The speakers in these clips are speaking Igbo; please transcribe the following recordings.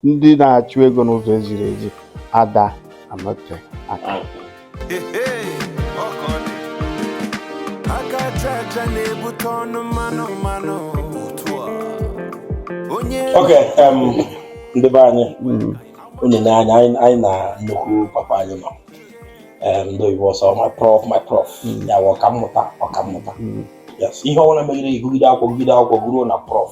ndị na-achụ ego n'ụzọ eziri ezi ada anọte aka aka aja aja na-ebute ọnụ mmanụ mmanụ onye okay um, ndị be anyị hmm. unu n'anya anyị na nnukwu papa anyị nọ um, ndị oyibo asị my prof my prof hmm. ya ọkammụta ọkammụta hmm. ihe ọbụla megide ị gụgide akwụkwọ gụgide akwụkwọ gụruo na prof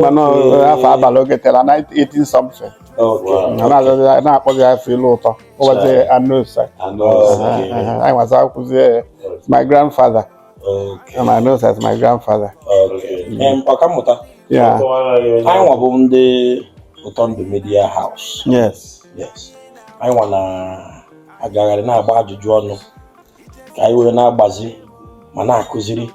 mana eh, afọ abalị oge tela 1980 something a na-azọzi ya- na-akpọzi ya afọ ilu ụtọ ụbọchị Anosa anyị nwa na-akpọzi ya my grandfather and I know that's my grandfather ọkammụta yeah anyị nwa bụ ndị Ụtọ Ndụ Media House yes yes anyị nwa na-agagharị na-agba ajụjụ ọnụ ka anyị wee na-agbazi ma na-akụziri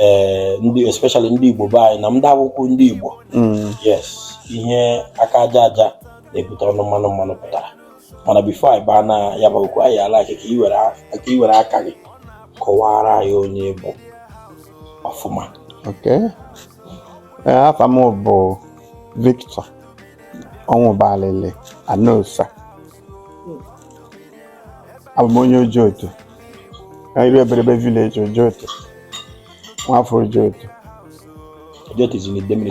eh, ndị especially ndị Igbo be anyị na ndị abụghịkwa ndị Igbo mm. yes ihe aka aja aja na-ebute ọnụ mmanụ mmanụ pụtara mana before anyị baa na ya bụ okwu anyị alike ka i were aka gị kọwara anyị onye ị bụ ọfụma eh, afa m bụ Victor Ọnwụbalili Anosa abụ m onye Ojoto Ire Eberebe village Ojoto nwafọ Ojoto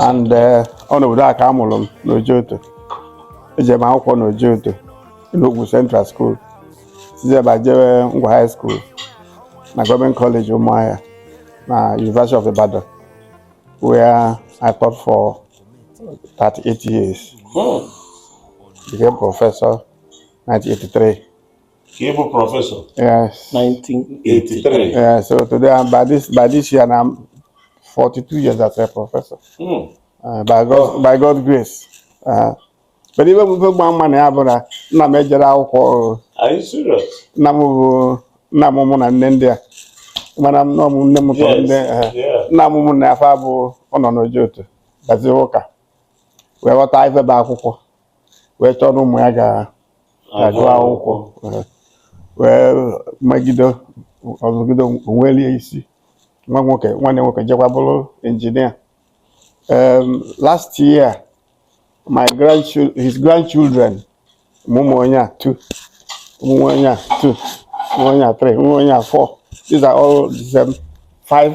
and eh, ọ n'obodo a ka a mụrụ m n'Ojoto eje m akwụkwọ n'Ojoto n'Ogwu Central School sizie ebe a jee Ngwa High School na Government College Ụmụahịa na University of Ibadan where I taught for 38 years. Hmm. Became professor 1983. He was professor. Yes. 1983. Yeah, so today I'm by this by this year and I'm 42 years as a professor. Mm. Uh, by God oh. by God's grace. Uh, but ife ị ga-ama ya bụ na nna m ejerọ akwụkwọ. Are you serious? Nna m bụ nna m mụ na nne ndị a. Mana m nọ m nne m tọrọ ndị nna m mụ na afọ abụ ọ nọ n'Ojoto. Bazi ụka. Wee ghọta ife bụ akwụkwọ. wee chọọ na ụmụ ya ga-agụ akwụkwọ wee megide ọ zụgide onwelie isi nwa nwoke nwanne nwoke jekwa bụrụ engineer um, last year my grandchildren his grandchildren ụmụ onye a two ụmụ onye a two ụmụ onye a three ụmụ onye a four these are all the same five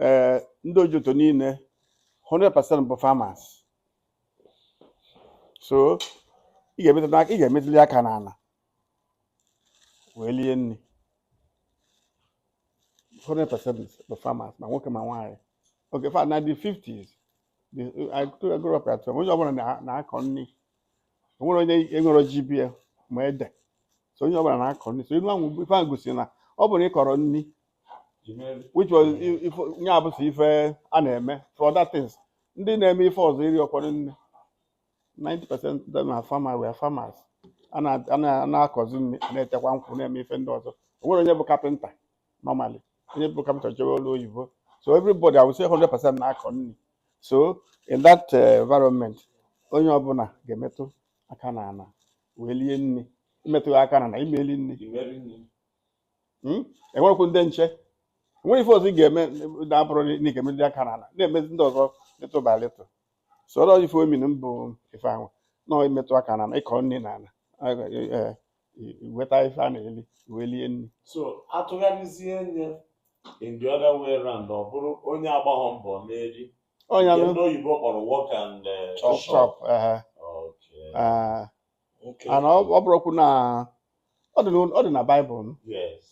ee ndị ojoto niile 100% bụ farmers so ị ga-emetụ n'aka ị ga-emetụli aka n'ala wee lie nri 100% bụ farmers ma nwoke ma nwaanyị oke fa na the 50s the- I grew- I grew up at home. onye ọbụla na- na-akọ nri o nwerọ onye enwerọ ji be ya ma ede so onye ọbụla na-akọ nri so ilu ahụ ife ahụ gosiri na ọ bụrụ na ị kọrọ nri which was nya bụ sọ ife a na-eme for other things ndị na-eme ife ọzọ erirọkwa nne 90% na fama were farmers a na-akọzi nri na-etekwa nkwụ na-eme ife ndị ọzọ o nwere onye bụ kapịnta normally onye bụ kapịnta jewe ọlụ oyibo so everybody I would say 100% na-akọ nri so in that uh, environment onye ọbụla ga-emetụ aka na ala wee lie nri ị metụrọ aka na ala ị ma-eli nri hmm? enwerekwu ndị nche o nwerọ ife ọzọ ị ga-eme na-abụrọ na ị ga-emetụ aka n'ala na-emezi ndị ọzọ little by little so ife ọ mean bụ ife ahụ na imetụ aka n'ala ịkọ nri n'ala weta ife a na-eli wee lie nri so atụgharịzie nya in the other way round ọ bụrụ onye agbarọ mbọ na-eri onye ndị oyibo kpọrọ work and eh, chop Okay. and ọ ọ bụrụkwu na ọ dị na- ọ dị na baịbụl m. Yes.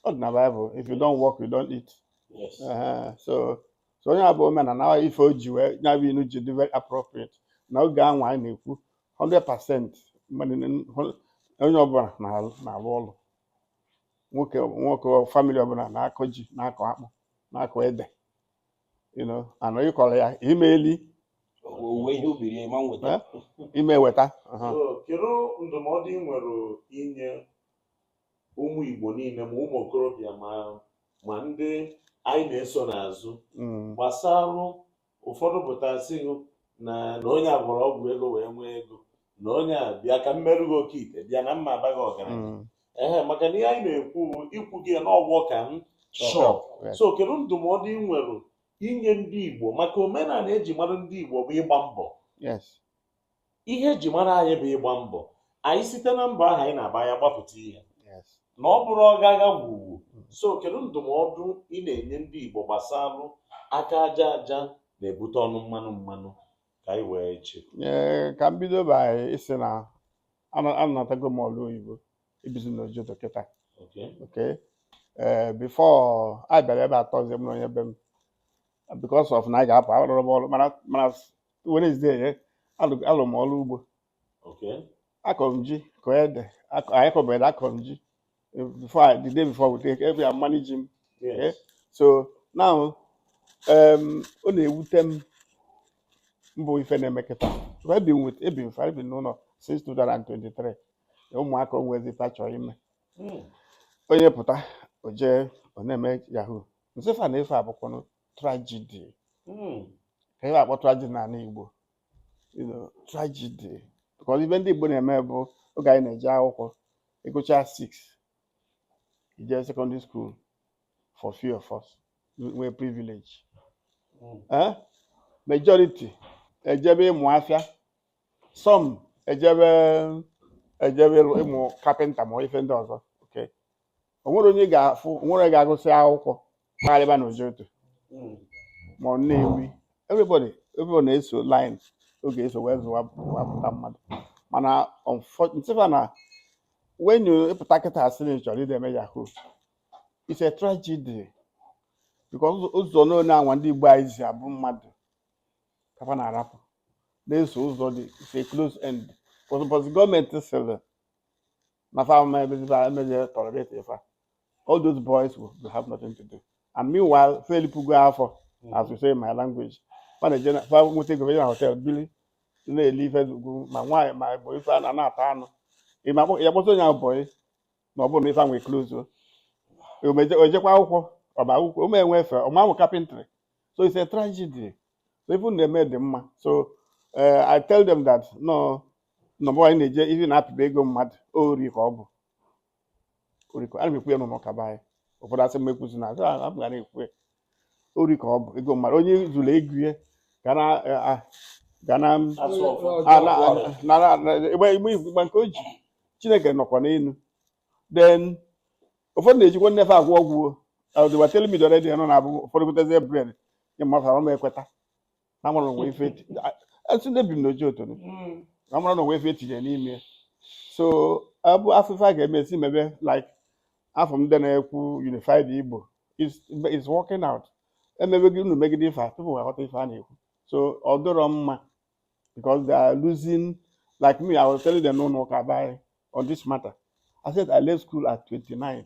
ọ dị na baịbụl if you don't work you don't eat Yes. Ehe, so so nya bụ omenala ọ ife o ji wee ya bụ inu ji dị very appropriate na oge anwa anyị na-ekwu 100% mmadụ na- hụ- onye ọbụla na-alụ na-alụ ọlụ nwoke nwoke famili ọbụla na-akọ ji na-akọ akpụ na-akọ ede you know, ana ị kọrọ ya ị ma-eli owuwe ihe ubi rue ị ma-enweta Eh? ị ma-eweta aha. So, kedu ndụmọdụ ị nwere inye ụmụ Igbo niile ma ụmụ okorobịa ma ma ndị anyị na-eso n'azụ Mm, gbasara ụfọdụ pụta sị gị na na onye a gwọrọ ọgwụ ego wee nwee ego na onye a bịa ka m merụ gị oke ite bịa na mma abaghị ọgaranya mm, ehe maka na ihe anyị na-ekwu bụ ikwu gị ya na ọgwọ ka m chọọ Sure. Yes. so kedu ndụmọdụ ị nwere inye ndị igbo maka omenala eji mara ndị igbo bụ ịgba mbọ Yes. ihe eji mara anyị bụ ịgba mbọ anyị site na mbọ ahụ anyị na-agba ya gbapụta ihe Yes. na ọ bụrọ ọ ga-aga gwọọ ọgwụ so kedu ndụmọdụ ị na-enye ndị igbo gbasalụ aka aja aja na-ebute ọnụ mmanụ mmanụ ka anyị wee chekwa Ee, ka m bido by ịsị na Ana- anatago m ọrụ oyibo ebizi na ojoto kịta Okay. okay ee before anyị bịara ebe a Thursday m na onye be m because of na anyị ga-apụ arụrọ m ọrụ mana mana Wednesday ya alụ- alụrụ m ọrụ ugbo Okay. akọrọ m ji kọọ ede akọ- anyị kọbụ ede akọrọ m ji eh, before I, the day before we take every I'm managing yes. okay? so now um ọ na-ewute m mbụ ife na-eme kịta I've been with Ebin for I've been n'ụlọ since 2023 ụmụaka o nwezi ife a chọrọ ime hmm. onye pụta o jee ọ na-eme yahoo m sị fa na ife a bụkwanụ tragedy hmm. ka ife a kpọ tragedy n'anị Igbo you know, tragedy because ife ndị Igbo na-eme bụ oge anyị na-eje akwụkwọ ị gụcha 6 i jee secondary school for few of us nwee privilege eh? majority ejebe ịmụ afịa some ejebe ejebe ịmụ carpenter ma ife ndị ọzọ o nwere onye ga-afụ o nwere ga-agụsị akwụkwọ kparịba na Ojoto ma ọ na-emi everybody everybody na-eso line ọ ga-eso wee zụwa wapụta mmadụ mana m sị fa na when you ị pụta kịta asị na ị chọrọ ịdị eme yahoo it's a tragedy because ụzọ- ụzọ niine anwa ndị Igbo anyị si abụ mmadụ ka fa na-arapụ na-eso ụzọ dị it's a close end because gọọmenti sịrị na fa ama emeziba emezie tolerate ife a. all those boys will, will have nothing to do and meanwhile fa elipugo afọ as we say in my language fa na-eje na- fa nweta ego eje na hotel bili na-eli ife zugwu ma nwaanyị ma bụ ife a na na-ata anụ ị ma kpọ- ya kpọta onye ahụ bọyị na ọ bụrụ na ife ahụ e-closuo o jekwa akwụkwọ ọba akwụkwọ ụmụ enwe efe ọma ahụ carpentry so it's a tragedy so ife na-eme dị mma so eh, I tell them that no na ọ bụ anyị na-eje ihe na-apịba ego mmadụ ori ka ọ bụ ori ka ana m ekwu ya n'ụlọ ụka be anyị ụfọdụ asị m ekwuzina asị a m gara ekwu ya ori ka ọ bụ ego mmadụ onye zuru ego ya ga na a- a- ga na Asụ ọfọ. a- na- a- na- na- na- ịgba ịgba ifu ịgba nke o ji Chineke nọkwa n'elu then ụfọdụ na-ejikwa nne fa agwọ ọgwụ o. Uh, they were telling me the other day na ọ na-abụ ụfọdụ gotezie bread nye mmadụ arụ m ekweta na mara o nwe ife eti- a- esi na ebi m n'oji otu ni. Mm. na mara na o nwe ife etinye n'ime ya. so ọ bụ afụ ife a ga-eme esi mebe like afụ m ndị na-ekwu unified Igbo is is working out emebegide unu megide ife a tupu ha ghọta ife a na-ekwu so ọ dịrọ mma because they are losing like me I was telling them n'ụlọ ụka be anyị on this matter I said I left school at 29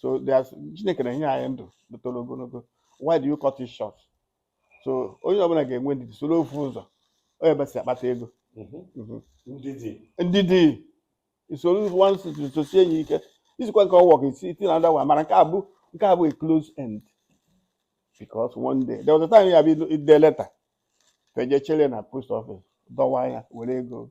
so there's Chineke na-enye anyị ndụ toro ogologo why do you cut it short so onye ọbụla ga-enwe ndidi soro ofu ụzọ onye besi akpata ego mhm. Mhm. ndidi i soro one situation sosie enyi ike isikwa nke ọ work isi iti na ndawa mana nke a bụ nke a bụ a close end because one day there was a time ya bụ ide leta fa eje chere na post office dọwa ya were ego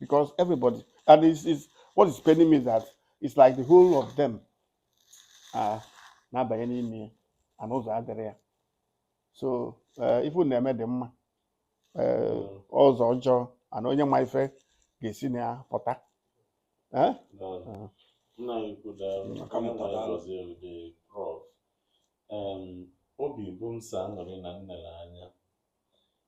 because everybody and it's, it's what is paining me is that it's like the whole of them are na-abanye n'ime ya and ụzọ adịrị ya so eh, ife unu na-eme dị mma eh, ụzọ ọjọọ and onye ma ife ga-esi na ya pụta Eh? Daalụ. Nna anyị ukwu daalụ. Nna ka mụta daalụ. Gọzie ude prof. Em, obi bụ m sọ aṅụrị na m nere anya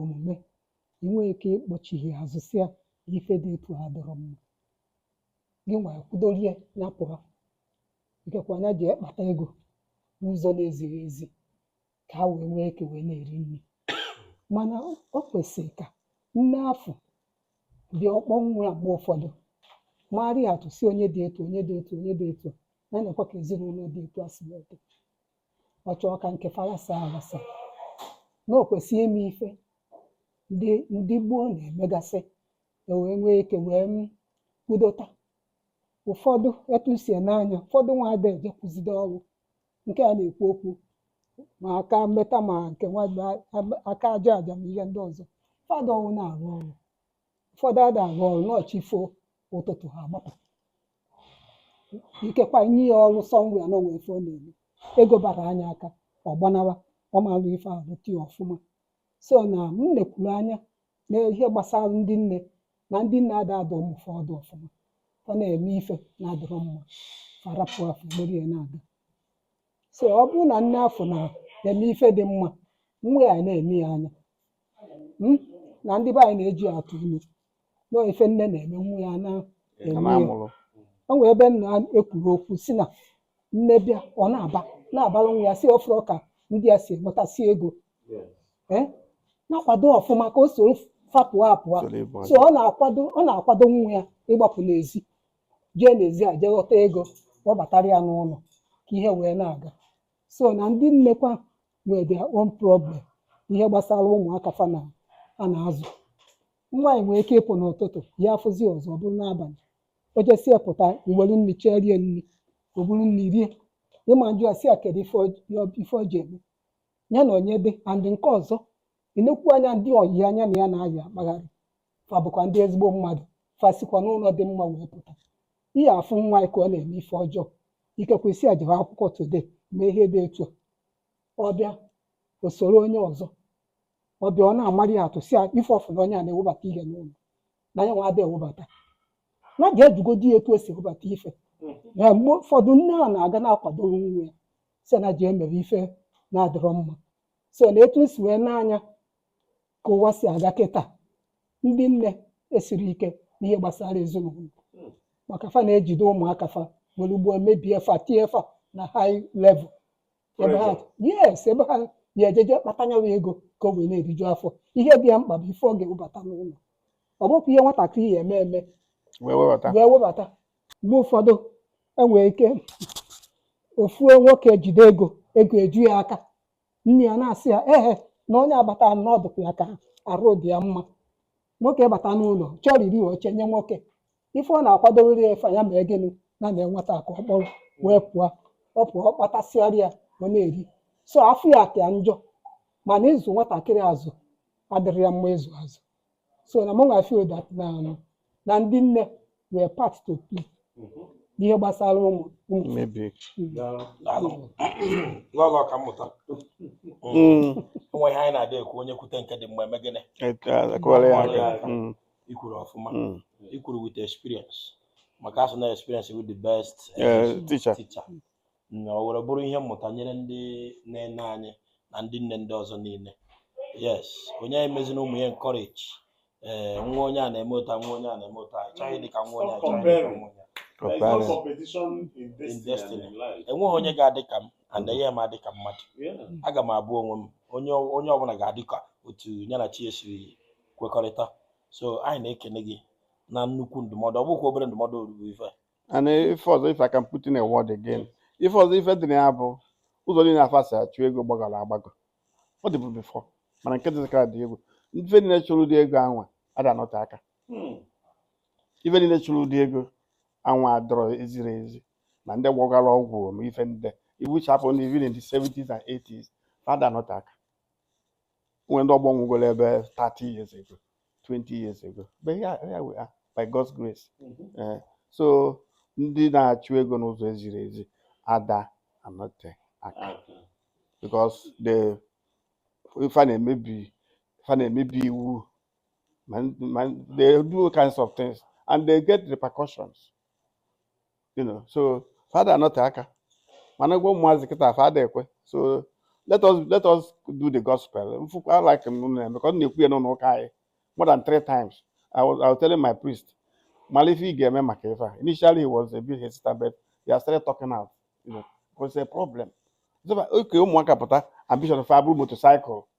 omume, i nwee ike ịkpọchigha ya azụ sị ya na ife dị etu a adịrọ mma. Gịnwa kwụdoro ya, ya pụọ. Ikekwa ya jee kpata ego n'ụzọ na-ezighị ezi ka ha wee nwee ike wee na-eri nri. Mana o o kwesịrị ka nne afọ bịa ọ kpọọ nwa ya mgbe ụfọdụ, maara ya atụ sị onye dị etu a, onye dị etu a, onye dị etu a, na-enekwa ka ezinụlọ dị etu a si wee dị. ọ chọọ ka nke fa ghasa aghasa na o kwesị ime ife ndị ndị gboo na-emegasị e wee nwee ike wee m kwudota ụfọdụ etu m si ene anya ụfọdụ nwa ada ejekwuzide ọrụ nke a na-ekwu okwu ma aka mmeta ma nke nwa aka aja aja ma ihe ndị ọzọ fa ada ọnwụ na-arụ ọrụ ụfọdụ ada arụ ọrụ na chi fo ụtụtụ ha agbapụ ikekwa nye ya ọrụ so nwa ya na o nwe ife ọ na-eme ego bara ya aka ọ gbanawa ọ ma arụ ife ahụ rụta ya ọfụma so na m nekwuru anya na ihe gbasara ndị nne na ndị nne ada adụ ụmụ fa ọdụ ọfụma ọ na-eme ife na-adịrọ mma fa arapụ afọ gbere ya na-aga so ọ bụrụ na nne afọ na-eme ife dị mma nwa ya na-ene ya anya Mm? na ndị be anyị na-eji ya atụ ilu na ife nne na-eme nwa ya na Ị ma amụrụ. o nwere ebe nna a kwuru okwu sị na nne bịa ọ na-aba na-abara nwa ya sị ọ fụrọ ka ndị a si enwetasị ego Eh? na-akwado ọfụma ka o soro fa pụ apụa Soro ịbụ so ọ na-akwado ọ na-akwado nwa ya ịgbapụ n'ezi jee n'ezi a jee ghọta ego kpọbatara ya n'ụlọ ka ihe wee na-aga so na ndị nnekwa nwere their own problem ihe gbasara ụmụaka fa na a na-azụ nwaanyị nwere ike ịpụ n'ụtụtụ ya afụzi ọzọ ọ bụrụ n'abalị o jesie pụta i were nri chee rie nri o buru nri rie ị ma ajụ ya sị ya kedu ife ọ- ya- ife ọ ji eme ya na onye dị and nke ọzọ ịnekwu anya ndị ọyị anya na ya na-ayị akpagharị fa bụkwa ndị ezigbo mmadụ fa sikwa n'ụlọ dị mma wee pụta ihe afụ nwa ya ka ọ na-eme ife ọjọọ ikekwe ị sị ya jewe akwụkwọ today mee ihe dị etu a ọ bịa o soro onye ọzọ ọ bịa ọ na-amarị ya atụ sị ya ife ọ fụ na onye a na-ewebata ihe n'ụlọ na ya nwa ada ewebata na ada ajụgodi ya etu o si ewebata ife ya mgbe ụfọdụ nne a na-aga na-akwadoro nwa ya sị na-eji emere ife na-adịrọ mma so na etu m si wee ene anya ka ụwa si aga kịta ndị nne esirọ ike n'ihe gbasara ezinụlọ maka fa na-ejide ụmụaka fa were gboo mebie fa tinye fa na high level ebe ha yes ebe ha ya-ejeje kpata nyawa ego ka o wee na-eriju afọ ihe dị ya mkpa bụ ife ọ ga-ewebata n'ụlọ ọ bụkwa ihe nwatakịrị ya-eme eme wee webata wee webata mgbe ụfọdụ e nwere ike ofu nwoke ejide ego ego eju ya aka nne ya na-asị ya ehe na onye a bata nọdụkwa ya ka arụ dị ya mma nwoke bata n'ụlọ chọọ iri o chenye nwoke ife ọ na-akwadowere ya efe ya maka gịnị na na nwata ka ọ kpọrọ wee pụọ ọ pụọ ọ kpatasịara ya ọ na-eri so afọ ya ka njọ mana ịzụ nwatakịrị azụ adịrọ ya mma ịzụ azụ so na mụ nwa feel that na na ndị nne nwere part to play n'ihe gbasara ụmụ ụmụ Maybe. lọlọ ka mmụta Mm. o nwere ihe anyị na-ada ekwu onye kwute nke dị mma e mee gịnị A kụọrọ ya aka. Mm. i kwuru ọfụma Mm. i kwuru with experience maka a sị na experience bụ the best Yeah, teacher. teacher na o were bụrụ ihe mmụta nyere ndị nne nne anyị na ndị nne ndị ọzọ niile yes onye anyị mezina ụmụ ya encourage ee nwa onye a na-emeta nwa onye a na-emeta anyị chọghị ịdị ka nwa onye a chọghị ịdị ka nwa onye a There is no Comparing. competition in in destiny, destiny and in life. enweghị onye ga-adị ka m and enye m adị ka mmadụ Yeah. aga m abụ onwe m onye onye ọbụla ga-adị ka otu ya na chi esiri kwekọrịta so anyị na-ekene gị na nnukwu ndụmọdụ ọ bụkwa obere ndụmọdụ o ruru ife and ife ọzọ if I can put in a word again ife ọzọ ife dị na ya bụ ụzọ niile a fa si achụ ego gbagọrọ agbagọ ọ dịbu before mana nke dịzikara dị egwu ife niile chụrụ ụdị ego anwa ada anọte aka hmm. ife niile chụrụ ụdị ego anwa adịrọ eziri ezi na ndị gwọgara ọgwụ ma ife ndị iwu chapụ ndị even in the 70s and 80s fa ada anọte aka nwere ndị ọgbọ nwụgoro ebe 30 years ago 20 years ago but here, here we are by God's grace Eh, so ndị na-achụ ego n'ụzọ ezirọ ezi ada anọte aka because the fa na-emebi fa na-emebi iwu ma ma they do all kinds of things and they get repercussions you know so fa ada anọte aka mana gwa ụmụazị kịta fa ada ekwe so let us let us do the gospel mfụkwa like m na-eme ka ọ na-ekwu ya n'ụlọ ụka anyị more than three times I was, I was telling my priest mara ife ị ga-eme maka ife a initially he was a bit hesitant but they have started talking out you know because it's a problem so oke ụmụaka pụta ambition fa abụrụ motorcycle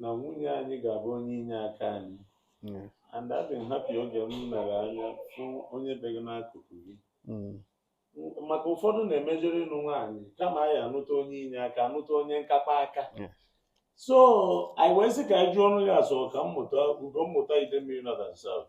na nwunye anyị ga-abụ onye inye aka anyị mm. and adị m happy oge m mere anya fụ onye be gị n'akụkụ gị mm. maka ụfọdụ na-emejere ịnụ nwaanyị kama anyị anụta onye inye aka anụta onye nkapa aka so anyị wee sị ka anyị jụọ ọnụ ya asọ ka mmụta ugo mmụta Idemmiri North and South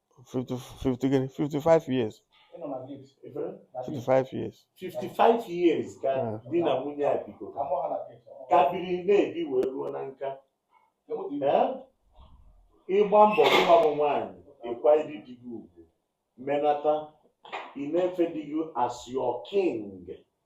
50, 50 gịnị 55 years Ị nọ na gate. Ife? Na gate. 55 years 55 years ka Ah. di na nwunye a bigo Ka mụ ha na gate. ka biri na-ebi wee ruo na nka Ka mụ dị iwu. Ee? ịgba mbọ nwa bụ nwaanyị ịkwanyere di gị ugwu menata ị na-efe di gị as your king